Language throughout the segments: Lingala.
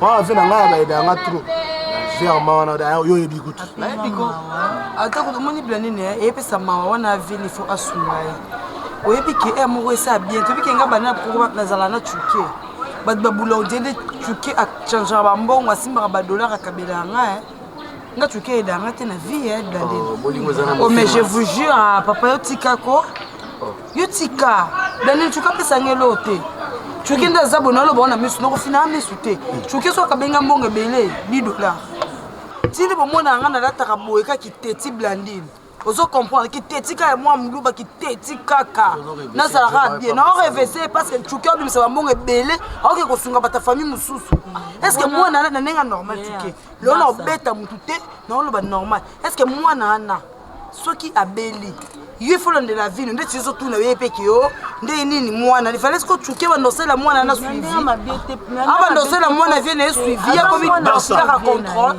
Wana vie na ngai abayeda yanga trop vers mawa na daya oyo oyebi kutu nayebi ko ata kutu omoni bila nini eyepesa mawa wana vie il faut asunga ye oyebi ke ere moko esa bien toyebi ke nga bana poko nazala na cuke bato babula odele cuke achangeaka bambongo asimbaka badollar akabela yanga nga tuke edanga te na vie ya blade oh, oh mais je vous jure ah, papa yo tika ko oh. yo tika blade tuke apesa nge eloo te tuke nde aza bona aloba wana misu nokofinaa misu te tuke hmm. so akabenga mbongo ebele 10 dollar tindi bomona nga nalataka boye kaki teti blandine ozo comprendre kiteti kaka mwa muluba kiteti kaka nazalaka bien na orevese parce que cuki obimisa bambongo ebele aoke kosunga bata famille mosusu est ce que mwana na ndenge normal cuki lelo na obeta motu te na oloba normal est ce que mwana wana soki abeli yo efolandela vino ndeti ezotuna ye mpe ke yo ndenge nini mwana lifalesi kocuke bandosela mwana na suivi abandosela mwana vie na ye suivi akomi kaka controle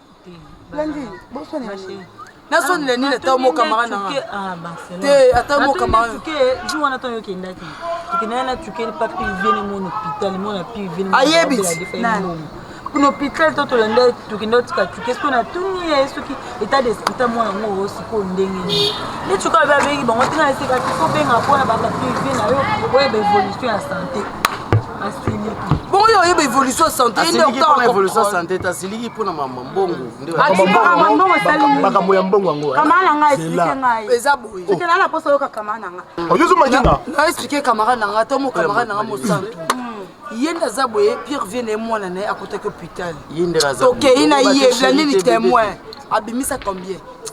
Lundi, boswana ya nini? nasoni le nini ata mo camarade na nga te ata mo camarade ke jour wana tango yokendaki tokendaki na tukeli pa pivene mon hôpital mon na pivene ayebi kuna hôpital to tolanda tokenda otika tuke soki na tuni ye soki état d'esprit ta mwana yango sikoyo ndenge nini nde tuka babe abengi bango tina eseka tiko benga mpona bapapier vie na yo oyeba évolution ya santé bongo yo oyeba évolution ya santé ye nde okotaka évolution ya santé te asiliki mpo na mama mbongo makambo ya mbongo yango kamara na ngai explike ngai eza boye soki nana mposa oyoka kamara na ngai oyozo makinga na explike kamara na ngai to mo kamara na ngai mosantu ye nde aza boye pierre vie na ye mwana na ye akotaki hôpital tokei na ye blandini témoin abimisa combien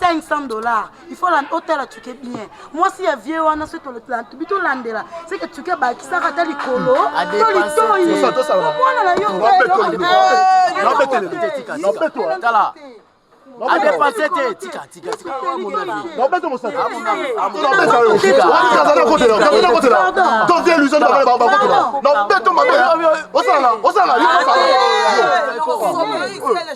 500 dollars il faut otala tuke bien mwasi ya vie wana soki tobi tolandela seke tuke bakisaka ata likolo to litoyi omwana na yo adepase te tikatikatikatikaozeluzobakotelaozeluzobakotela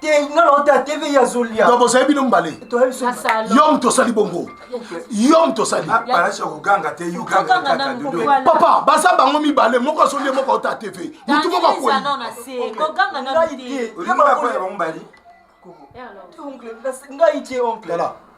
te nga na ota tv ya zolia donc bozali bino mbale yo moto osali bongo yo moto osali ah, papa baza bango mibale moko azoli moko ota tv motu moko akwei ngai te oncle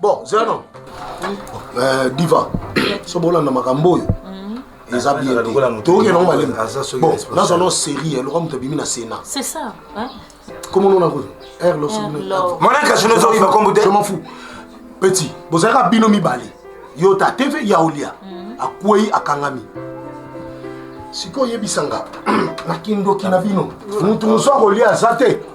bon zeno euh, diva soki bolanda makambo oyo mm. eza bien te toyoki nango malemi bon nazwa no série eloka moto abimi na sénat c'est ça komo nona kuyo r monaka sino ezoyiba kombo te je m'en fous petit bozalaka bino mibale yo ta tv ya olia mm. akwei akangami sikoyo oyebisa nga na kindoki na bino moto mosu akolia aza te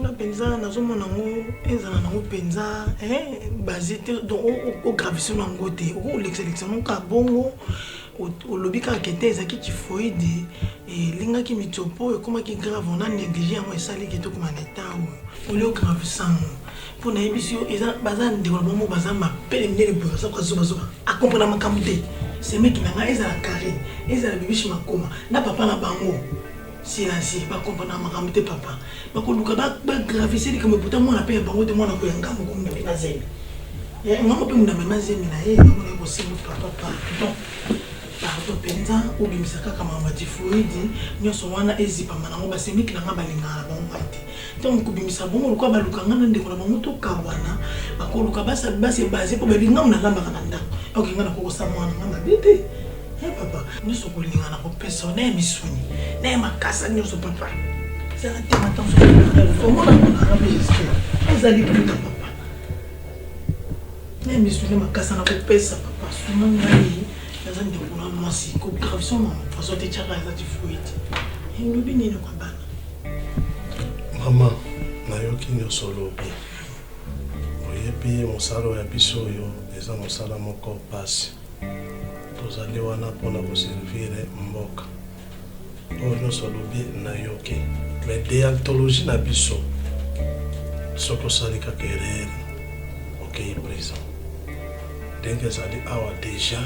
Nga penza nazo mona ngo ezala nango penza eh base te donc o gravise na ngo te oko lekisa lekisa ngo ka bongo olobi kaka kete ezaki typhoïde elingaki mitsopo ekomaki grave ona néglige yango esali kete okoma na eta oyo oli o gravise ngo mpo nayebisi yo eza baza ndeko na bango baza mapele minene boye baza kozobazoba akomprena makambo te semeki na ngai ezala carré ezala bibishi makoma na papa na bango Siasi ba comprendre makambo te papa bakoluka ba ba gravise likambo pourtant mwana pe ya bango te mwana ko ya ngambo ko munda mema zemi eh, ngambo pe munda mema zemi na ye ngambo na ye bosembo papa pardon pardon mpenza obimisa kaka makambo ya tifoidi nyonso wana ezipama nango basemiki na ngai balingaka na bango ngai te Ntango kobimisa bongo lokola baluka ngai na ndeko na bango tokabwana, bakoluka basa basi ebase mpo bayebi ngai nalambaka na ndako. Oke ngai nakokosa mwana ngai mabe te. He papa, nyonso kolinga na kopesa yo na ya misuni, na ya makasa nyonso papa. Zala te mata mosusu omona monaka mpe gestion ezali kuta papa. Na ya misuni makasa na kopesa papa, sunga ngai naza ndeko na mwasi, ko gravison na poison te tyaka eza tifoyite. Elobi nini kwa bana? Mama, nayoki nioso olobi. Oyebi mosala oyo ya biso oyo eza mosala moko pasi. Tozali wana mpo na ko servir mboka. Oyo nioso olobi nayoki mais deontologie na biso soki osali kaka erreur okeyi prison. Ndenge ezali awa dejà.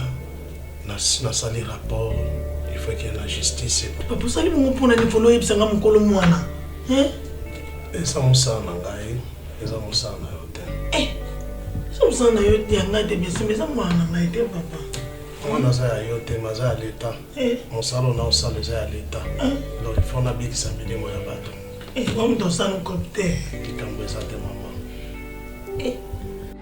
nasali rapport il faut qu'il y ait la justice papa osali bongo mpo na nivolo oyebisa nga mokolo mwana eza mosala na ngai eza mosala na yo te eh, eza mosala na yo ya ngai te biesime eza mwana na ngai te papa mwana aza ya yo te ma aza ya leta eh. mosala ona osala eza ya leta eh. donc il faut nabikisa milimo ya bato omutu osala kote likambo eza te mama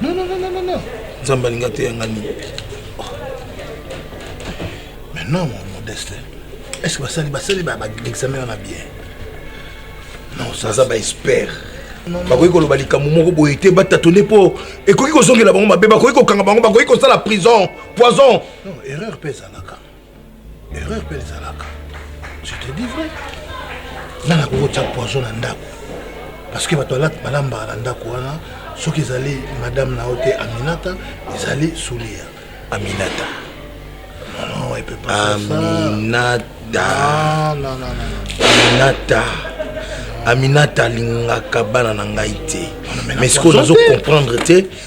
Non, non, non, non, non, non. Nzambe alinga te yanga nini. Mais non, mon modeste. Est-ce que basali basali ba examen wana bien? Non, ça ça ba expert. bakoki koloba likambo moko boye te batatone mpo ekoki kozongela bango mabe bakoki kokanga bango bakoki kosala prison poison erreur mpe ezalaka erreur mpe ezalaka je te dis vrai nani akoki kotya poison na ndako parce que bato balambaka na ndako wana soki ezali madame na yo te aminata ezali sulia aminata non, epe aminata ah, aminata aminata alingaka bana na ngai te mais sikoyo nazo comprendre te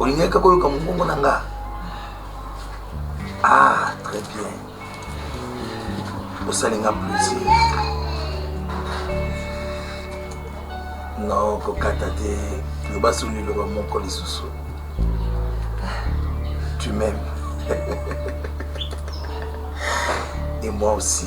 olingaki kaka oyoka mongongo na nga ah très bien osali nga plaisir non kokata te loba soni liloba moko lisusu tu m'aimes et moi aussi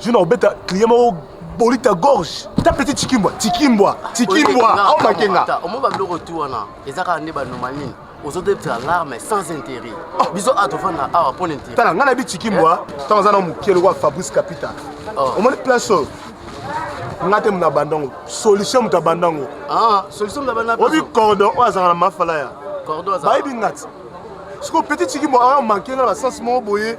Zuna obeta client moko bolita gorge ta petit tikimbwa tikimbwa tikimbwa au oh, makenga omo ba biloko tu wana eza kaka nde ba normal nini ozodebisa larme sans intérêt oh. biso a tofanda awa mpo na intérêt tala ngai nayebi tikimbwa eh? ntango aza na moke lokola fabrice capital oh. omoni place oyo nga te moto abanda yango solution moto abanda yango ah, obi cordon oyo azalaka na mafalaya bayebi ngati sikoyo petit tikimbwa amanke nga na basense moko boye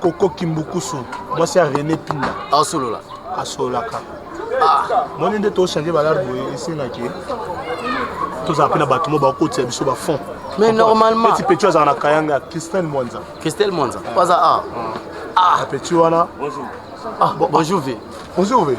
koko kimbukusu mwasi ya rene pinda asolola asololaka ah. moni nde tochange balare boye esengaki tozala mpe na bato mo bakotisa biso bafond mais normalement petit petit azala na kayanga christelle mwanza christelle mwanza aza a ah. ah. petit wana bonjour ve bonjour ve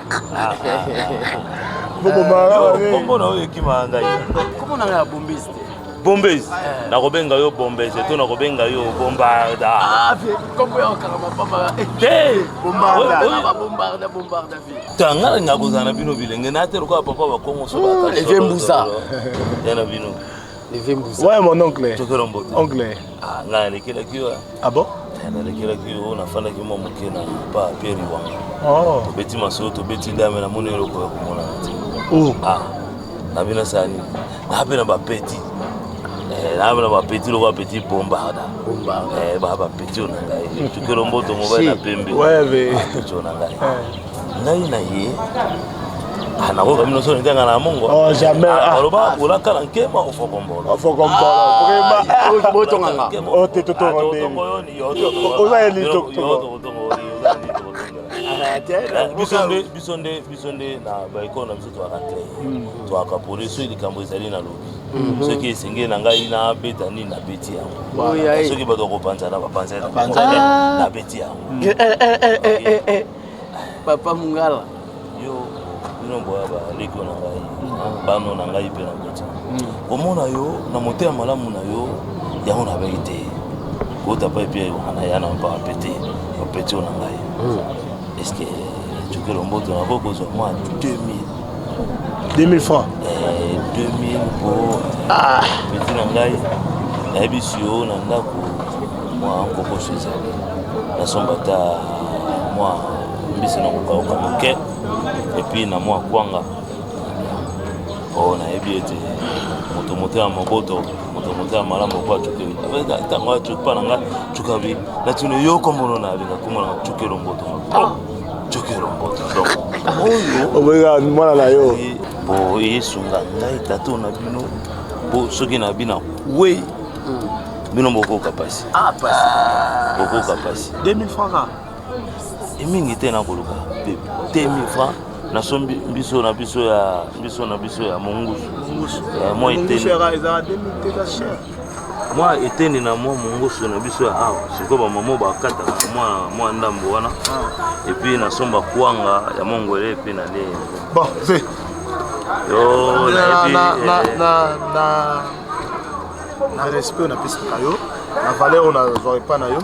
kombo na oyo ekima ngai kombo na ngai ya bombese te bombes eh. nakobenga yo bombes to nakobenga yo bombarda ah, tanga eh. nakozala na bino bilenge na te lokola papa bakongo soevembusa ya na bino Levé Mbuza. Ouais, mon oncle. Tu veux mbote. Oncle. Ah, nga nalekelaki yo. Ah bon? Eh, nalekelaki yo, nafandaki mwa moke na pa Pierre Iwanga. Oh. Tobeti masolo, tobeti ndame, namoni eloko ya komona na te. Oh. Ah, nabi nasala nini? Nabe na bapeti. Eh, nabe na bapeti loko bapeti bombarda. Bombarda. Eh, ba bapeti oyo na ngai. Tukelo mboto mobali na pembe. Ouais, ve. Bapeti oyo na ngai. Eh. ngai na ye ah, nakoka bino so nitanga na mongo oh, ah, aloba ah, olaka na nkema ofokombolobototongangaoza biso nde biso nde na baekole na biso toyaka cle hmm. toyaka pole soki likambo ezali na lobi Mhm. soki esengeli na ngai nabeta nini nabeti yango soki bato bakopanzana bapanzana nabeti yango papa mungala yo bino boya baleko na ngai mm. bano na ngai mpe na koti mm. komona yo na motema malamu na yo yango na bai te kota pa epi wana ya na mpaka mpe te opeti oyo na ngai mm. estce cokelo mboto nakoki kozwa mwa 2000 2000 francs eh, 2000 po ah. peti na ngai nayebisi yo na ndako mwa nkokoso ezali nasomba ata mwa mbisi na kokauka moke epuis na mwa kwanga po oh, nayebi ete moto moto ya moboto moto moto ya malamu po acukeli ntango acupa na ngai cukabi natino yo kombono na abenga komona cukelomboto oboyika mwana na yo po esunga ngai tato na bino po soki na bina we hmm. bino bokoka pasi ah, ah. bokoka pasi 2000 francs ka emingi te na koluka pe 2000 francs na so biso na biso ya biso na biso ya mongusu ya moi te mwa eteni na mwa mongoso na biso ya awa sikoyo bamama bakataka mwa ndambo wana ah. epuis nasomba kwanga ya mongole epuis na lie na respect napesaka yo na valeur oyo nazwa epai na yo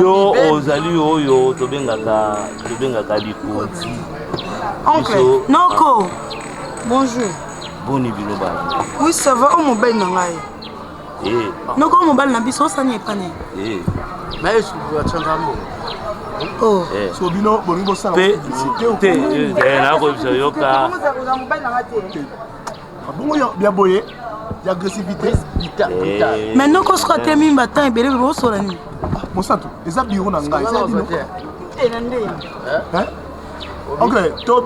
yo ozali oyo tobengaka tobengaka likonzi oncle noko bonjour boni bino bana oui ça va o mobali na ngai eh. noko o mobali na biso osani epane eh. naye sukuya canza mbongo Oh. Eh. so bino bolingi bosala te nakoyebisa yoka Bongo ya boye ya agressivité eh. maintenant ko soka te mimba temps ebele bebo osola nini ah, mosantu eza biro na ngai eza bino eh, na nde eh? ok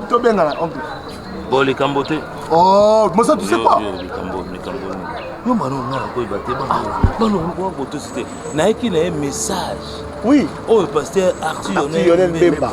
tobengana ok bo likambo te oh, mosantu c'est quoi yo mwana onga nakoyeba te bana okoka kotosi te nayeki na ye message oui oyo paster arthur yonel bemba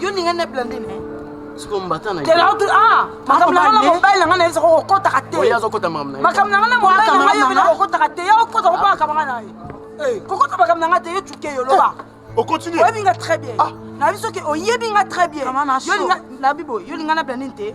yo ninga na blandine eh? sikoyo mbata na ah, makambo na ngai na mobali na ngai na ye soko okotaka te makambo na ngai na mobali na ngai yobina kokotaka te ya okota kopa makambo ngai na ye eh. kokota makambo na ngai te yo cuke yo loba oyebi nga très bien ah. na biso ke oyebi nga très bien yo linga na bibo yo linga na blandine te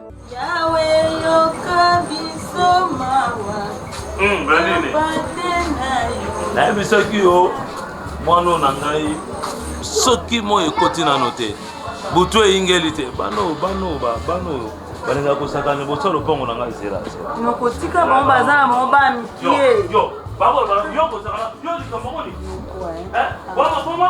Yawe yoka biso mawa. Hmm, nayebisaki yo mwana na ngai soki moi ekoti nano te butu eyingeli te bano bano bano balinga kosakana liboso ya lopango na ngai zela nokotika bango baza na bango ba mikie yo kosakana yo likambo moni boma boma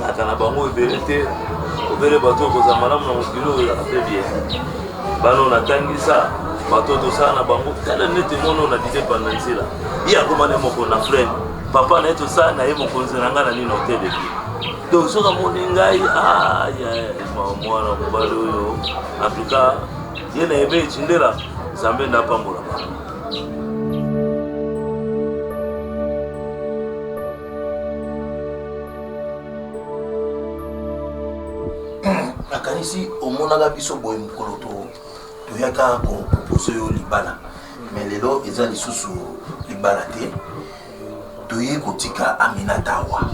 Nayaka na bango ebele te, obele bato okozala malamu na mokili oyo ezalaka mpe bie. Bana oyo natangisa, bato tosala na bango tala neti mono na dide banda nzela ye akoma na ye moko na frene papa na ye tosala na ye mokonzi na ngai na nini oteleki donc soki amoni ngai mwana mobali oyo en tout cas ye na yebe etindela nzambe nde apambolaka nakanisi omonaka biso boye mokolo toyaka kopropose yo libala mais lelo eza lisusu libala te toye kotika aminata awa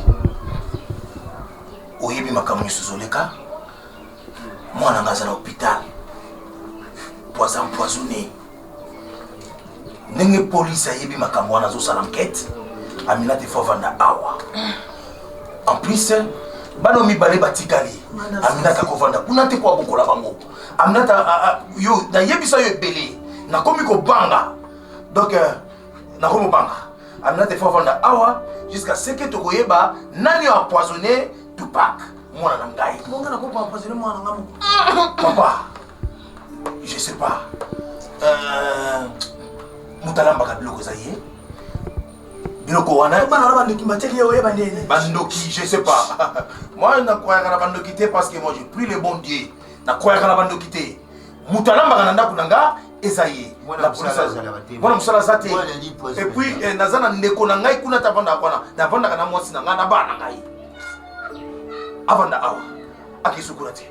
oyebi makambo mosusu oleka mwana nga aza na hôpital poison empoisonné ndenge polisi ayebi makambo wana azosala enquête amina te fo avanda awa en plus bana mibale batikali aminata kovanda kuna te koabokola bango aminata yo nayebisa yo ebele nakomi kobanga donc euh, nakomi kobanga aminata efo avanda awa jusqu'à ce que tokoyeba nani empoisonné tupak mwana na ngai papa je sais pas euh, moto alambaka biloko eza ye biloko wana bana na bandoki batiaki ye oyeba ndeni bandoki je sais pas moi nakwayaka na bandoki te parce que moi je prie le bon dieu nakwayaka na bandoki te moto alambaka na ndako na nga eza ye mwana mosala aza te epuis eh, naza na ndeko na ngai kuna te avandaka wana navandaka na mwasi na ngai na bana na ngai avanda awa akisukola te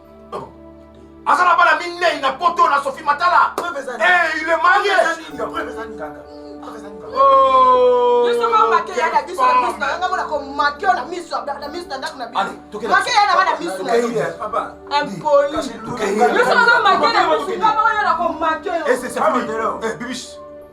aza na bana minei na poto na sophie matala eh, il est marié bibish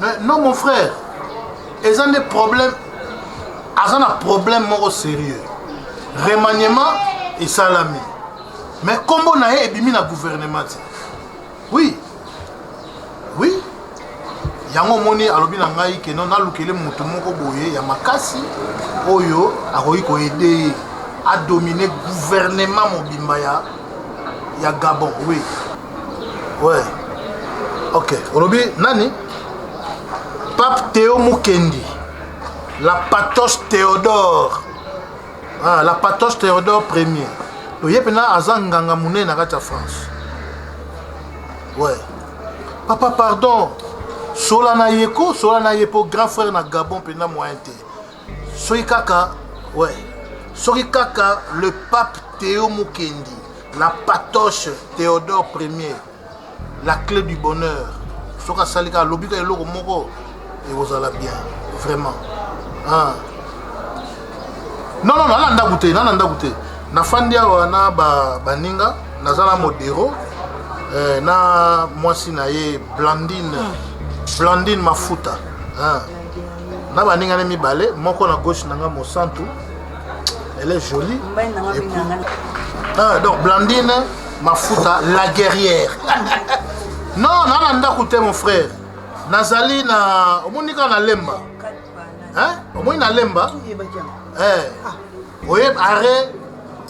Mais non mon frère, eza nde problème aza na problème moko sérieux remaniement esalami mais nkombo na ye ebimi na gouvernement te oui oui yango omoni alobi na ngai keno nalukele moto moko boye ya makasi oyo akoki koede ye adomine gouvernement mobimba ya ya gabon oui ouais ok olobi nani pape teo mukendi la patos théodore ah, la patos théodore premier oye mpena aza nganga monene na kati ya france ouais papa pardon sola na ye ko sola na ye mpo grand frère na gabon mpena moyen te soki kaka ouais soki kaka le pape Théo Mukendi la patoche Théodore Ier la clé du bonheur soki asali kaka alobi kaka eloko moko ekozala bien vraiment ah. non non nana ndako te nana ndako te nafandi awa na baninga naza na modero eh, na mwasi na ye blandine blandine mafuta ah. na baninga ne mibale moko na gauche na nga mosantu elle est jolie et puis, ah, donc blandine mafuta la guerrière non na na ndako te mon frère nazali na omoni kaka na lemba omoni na lemba eh. oyebi arret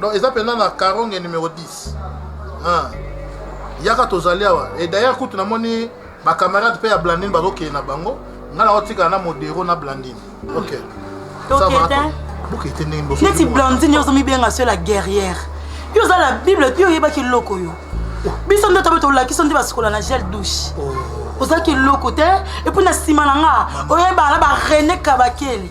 Donc eza pena na Karonge numero 10. Ah. Yaka tozali awa. Et d'ailleurs kutu namoni ba camarades pe ya Blandine bazokende na bango. Nga na otika na Modero na Blandine. OK. Ça va. Toketa. Bokete ndenge boso. neti blandine yo ozomibenga so la guerrière yo oza la bible yo oyebaki eloko yo biso nde tobe tolakisa nde basukola na gel douche ozalaki eloko te epuis na nsima na nga oyebana barene kabakele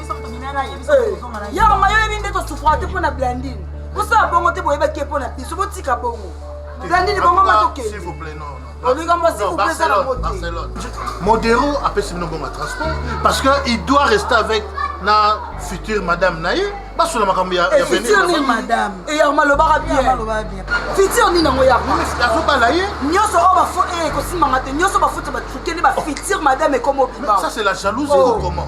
ya mayo yebi nde tosufra te mpo na blandine bosala bongo te boyebaki ye mpo na biso botika bongo blandine bongo matokende modero apesi bino bongo ya transport parce que il doit rester avec na future madame na ye basolo makambo ya eh, future nini madame eyarma eh, lobaka bien future nini yango yarma azobala ye nyonso oyo bafo eh, ekosimanga te nyonso bafuti batukeli ba future madame ekomo bima ça c'est la jalousie ou oh. comment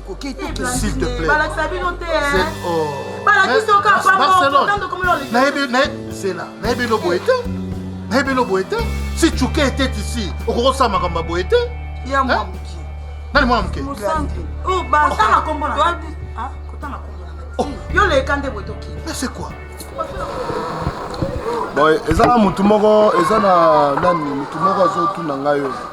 balakisa bino te balakisi oka pamozela nayebi no boye te nayebi no boye te si cuke etete isi okoki osala makambo ya boye te nani mwana moke yo leka nde boye toki c'est quoi boye eza na motu moko eza na nani motu moko azotuna ngai oyo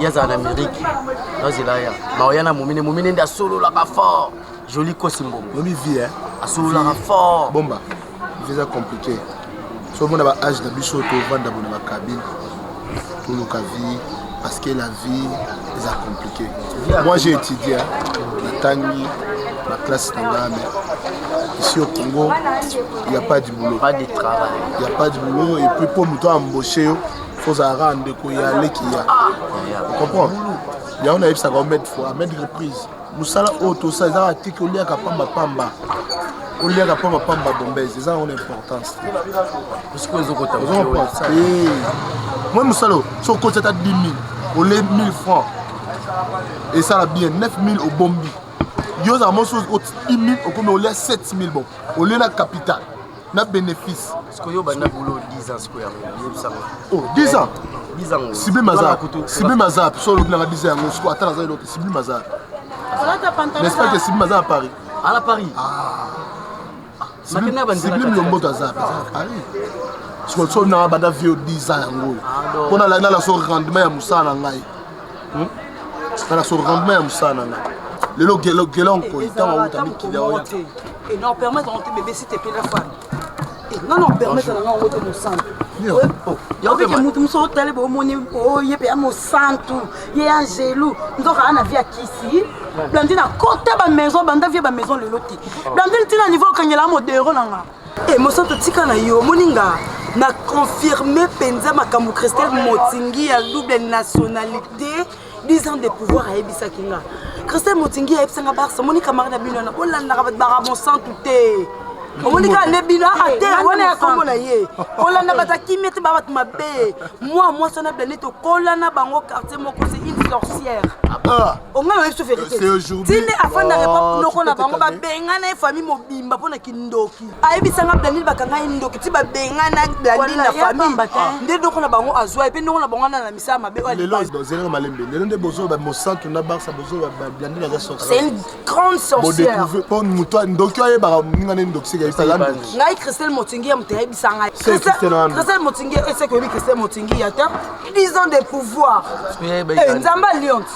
ye azala na amerike nazela ya maoya na momine momine nde asololaka fort joli kosi mbongo oyebi vie eh? asololaka fort bomba vie eza compliqué so omona ba age na biso tovanda bona bakabine toluka vie parce que la vie eza compliqué moi j'ai étudié natangi na classe na ngaa mais ici au congo il n'y a pas du boulot pas de travail il n'y a pas du boulot et puis mpo moto aembauche yo fo ozala kaka ndeko ya leki ya comprendre yango nayebisaka yo mede fois mede reprise mosala oyo tosa eza kaka tiki oliaka pamba pamba oliaka pamba pamba bombese eza yango na importance moi mosala oyo so okoti ata 10 000 ole 1000 francs esala bien 9 000 obombi yo ozala mosusu 10 000 okomi olia 7 000 bon olie na capital na bénéfice sikoyo yo banda boulot 10 ans sikoyo yango yebisa ngo oh 10 ans 10 ans sibi maza sibi maza so lobi nanga 10 ans yango sikoyo ata naza eloko sibi maza n'est-ce pas que sibi maza à Paris à la Paris ah sibi lomboto aza à Paris sikoyo so nanga banda vieux 10 ans yango oyo mpo na landa la so rendement ya mosala na ngai hmm? kala so rendement ya mosala na nga lelo gelon koi ntango auta mikili oya et non permettre on te bébé si t'es la femme et non non permettre na nga on te mosantu yokeke motu mosusu otali bomoni oye mpe ya mosantu ye ya angelu nzoka ana vi ya kisi blandine akota bamaison banda vie bamaison lelo te blandine ntina niveau okangela modero na nga E mosantu tika na yo omoni nga na confirme mpenza makambo christelle motingi ya double nationalité 10 ans de pouvoir ayebisaki nga christelle motingi ayebisa nga barsa omoni camarade ya bino wana bolandaka bato baka mosantu te omoni kaka nde bino ate wana ya kombo na ye kolanda bato akimi ete babato mabe mwa mwasi wana blane tokola na bango quartier moko se une sorcière ongai oyebi so verité tinde afandaka epa noko na bango babengana ye famille mobimba mpo na kindoki ayebisa nga blandine bakanga ye ndoki ti babengana blandine na famille nde ndoko na bango azwa ye mpe ndoko na bango wana na misala mabe oyazelaka malembe lelo nde bozoba mosantu na barsa bozoba blandine aza sorcelle grande sorcière mpo moto ndoki ayebaka moninga nde ndoki seka yebisa ya ndoki ngai christelle motingi ya moto ayebisa ngai christelle motingi eseke oyebi christelle motingi ya te 10 ans de pouvoir eh, nzambe alionte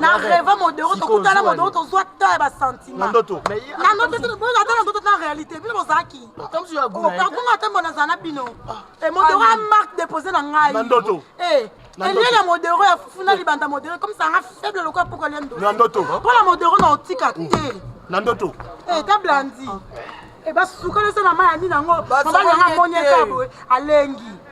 na reve modero tokutana modero tozwa temps ya basantimentndoto ata na ndoto na réalité bino bozalaki okangunga ata mbo nazala na bino ah. modero ya marque dépose na ngai eh, elie na modero ya fufu na libanda modero comme sanga faible lokola poko lia ndoto mpo na modero na otika te mm. na ndoto eh, ta blandi ebasukalesa eh, na mai ya nini yango mobali yanga amoni ekaboye alengi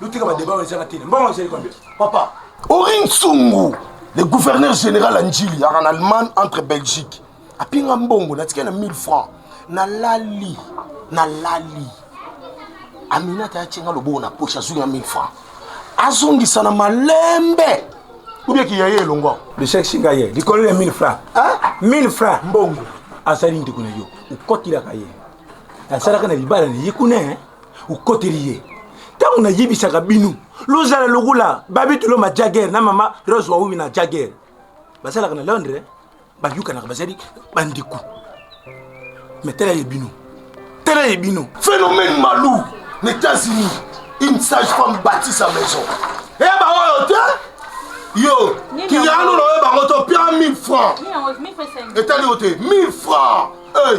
Lutika ba débat eza tina. Mbongo eza combien? Papa. Orin Sungu, le gouverneur général à Ndjili, en Allemagne, entre Belgique. A pinga mbongo, na tikela 1000 francs. Na lali, na lali. Amina ta chenga lobo na poche azu na 1000 francs. Azongisa na malembe. Ou bien qu'il y a eu longo. Le chèque singa ye, likolo ya 1000 francs. Hein? 1000 francs mbongo. Asali ndiko na yo, ukotila ka ye. Asalaka na libala na ye kuna. okoteli ye ntango nayebisaka bino lozala lokola babitulo ma jager na mama rose wawimi na jager bazalaka na londres bayukanaka bazali bandeko me tala ye bino tala ye bino phénomène malou na états-unis une sage femme bâti sa maison eya eh, baoyo te yo kiyano na oyo bango to pia 1000 francs etali yo te 1000 francs eh,